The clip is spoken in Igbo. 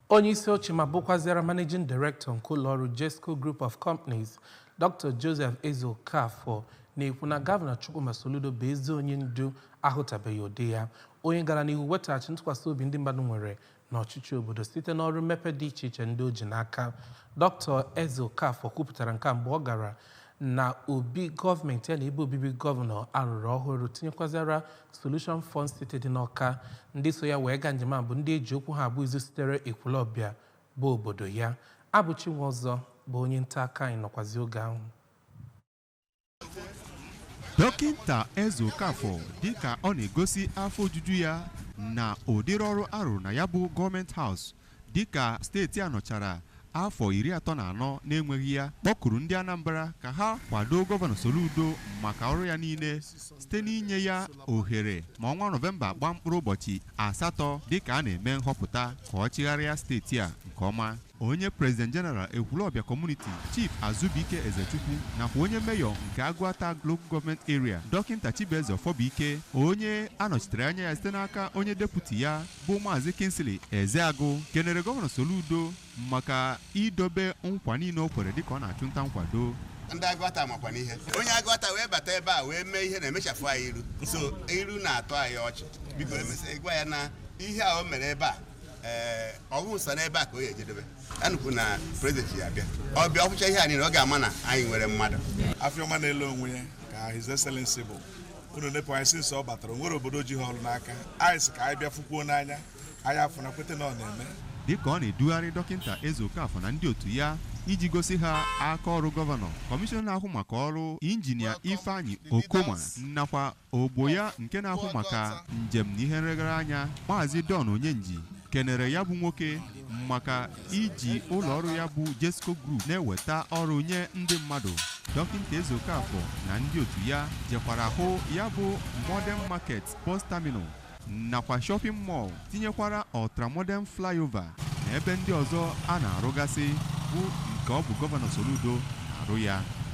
Onye isi oche ma bụkwaziara Managing Director nke ụlọọrụ Jezco Group of Companies, Dr. Joseph Ezeokafor na-ekwu na Gọvanọ Chukwuma Soludo bụ ezi onye ndu ahụtabeghị ụdị ya, onye gara n'ihu wetaghachi ntụkwasị obi ndị mmadụ nwere n'ọchịchị obodo site n'ọrụ mmepe dị iche iche ndị o ji n'aka. Dr. Ezeokafor kwupụtara nke a mgbe ọ gara na obi gọọmenti ya na ebe obibi gọvanọ a rụrụ ọhụrụ tinyekwaziara solution fun city dị n'ọka ndị so ya wee gaa njem a bụ ndị eji okwu ha agba izu sitere ekwulọbịa bụ obodo ya abụchi nwọzọ bụ onye nta aka anyị nọkwazi oge ahụ dọkịnta ezeokafor dịka ọ na-egosi afọ ojuju ya na ụdịrị ọrụ a rụrụ na ya bụ government house dịka steeti a nọchara afọ iri atọ na anọ na-enweghị ya, kpọkuru ndị Anambra ka ha kwado Gọvanọ Soludo maka ọrụ ya niile site n'inye ya ohere ma ọnwa Nọvemba gbaa mkpụrụ ụbọchị asatọ dịka a na-eme nhọpụta ka ọ chịgharịa steeti a nke ọma. Onye President General Ekwulọbịa Community, Chief Azubuike Ezechukwu nakwa onye Mayor nke Aguata Local Government Area, Dọkịnta Chibueze Ọfọbụike, onye a nọchitere anya ya site n'aka onye Deputy ya, bụ maazị Kingsley Ezeagụ kenere gọvanọ Soludo maka idobe nkwa niile o kwere dịka ọ na-achụ nta nkwado ndị agụata makwa n'ihe onye agụata wee bata ebe a wee mee ihe na-emechafụ anyị iru sọ iru na-atọ anyị ọchị biko emesịa gwa ya na ihe a o mere ebe a ee ọ bụ sọ n'ebe a ka ọ ya-ejedebe anụkwu na prezidenti ya-abịa ọ bịa ọ fụcha ihe a niile ọ ga-ama na anyị nwere mmadụ afịọma na-ele onwe ya ka His Excellency bụ unu nepụ anya since ọ batara o nwere obodo o ji ha ọrụ n'aka anyị sị ka anyị bịa fụkwuo n'anya anyị afụna kweta na ọ na-eme dịka ọ na-edugharị dọkịnta Ezeokafor na ndị otu ya iji gosi ha aka ọrụ gọvanọ kọmishọna na-ahụ maka ọrụ injinia Ifeanyi Okoma nakwa ogbo ya nke na-ahụ maka njem na ihe nregara anya maazị Don Onyenji kenere ya bụ nwoke maka iji ụlọ ọrụ ya bụ Jezco Group na-eweta ọrụ nye ndị mmadụ dọkịnta Ezeokafor na ndị otu ya jekwara hụ ya bụ Modern Market Bus Terminal nakwa shopping mall tinyekwara ultramodern flyover na ebe ndị ọzọ a na-arụgasị bụ nke ọ bụ gọvanọ Soludo na-arụ ya